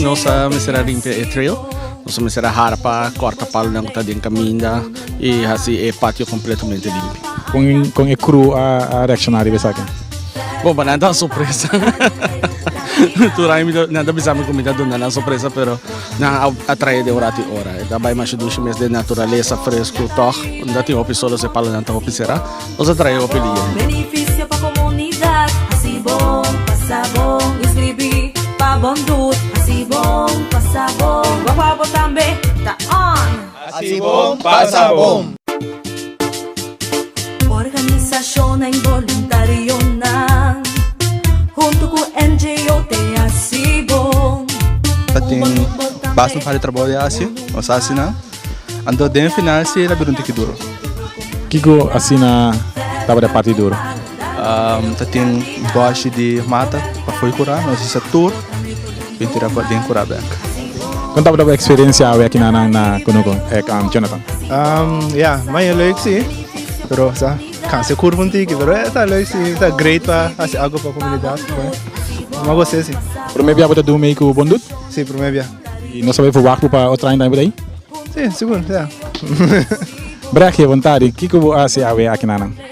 Nos a mester a rimpia e trail. Nos a mester a harpa, corta palonan cu ta den caminda y haci e patio completamente limpio. Con, con e crew a, a reacciona riba esaki? Bon, para nan ta sorpresa. Tur aña mi ta, nan ta bisa mi cu mi ta duna nan sorpresa, pero Nan a atrae den ora tin ora. E ta bai masha dushi mes den naturalesa fresco toch. Unda tin hopi solo se palo nan ta hopi sera. Nos a trae hopi liye. Beneficio pa comunidad Hasi bon, pasa bon Inscribi pa bon doet Hasi bon, pasa bon Guaguabo tambe ta on! Asi bon pasa bon. Organisashonnan boluntarionan huntu ku NGO te hasi bon. Ta tin basta un hadi trabou di hasi, nos hasi nan. Anto den final si e ta bira un tiki duru. Kiko asina tabata e parti duru? Ta tin boshi di mata pafo'i kura, nos hisa tur bin tira pa den kura bek. Kon tabata bo eksperensia awe aki na nan na Conoco, ek Jonathan? Ya, maya leuk si, pero sa kansa e kurpa un tiki, pero ta leuk si, ta great pa hasi algu pa komunidat, bo a gos'e si. Prome bia bo ta dun mei ku Bondut? Si, prome bia. I nos a bay fuwak bo pa otro aña tambe por ahi? Si, sigur, ya. Brek, e bontadi, kiko bo hasi awe aki na nan?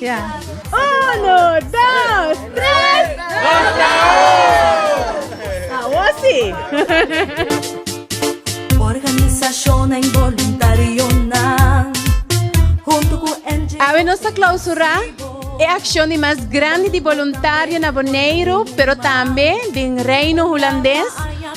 Yeah. Uno, dos, tres. Ahora sí. Organización en voluntario junto con Awe nos a clausura e acción di más grande di voluntario na Boneiru, pero también din Reino Holandés.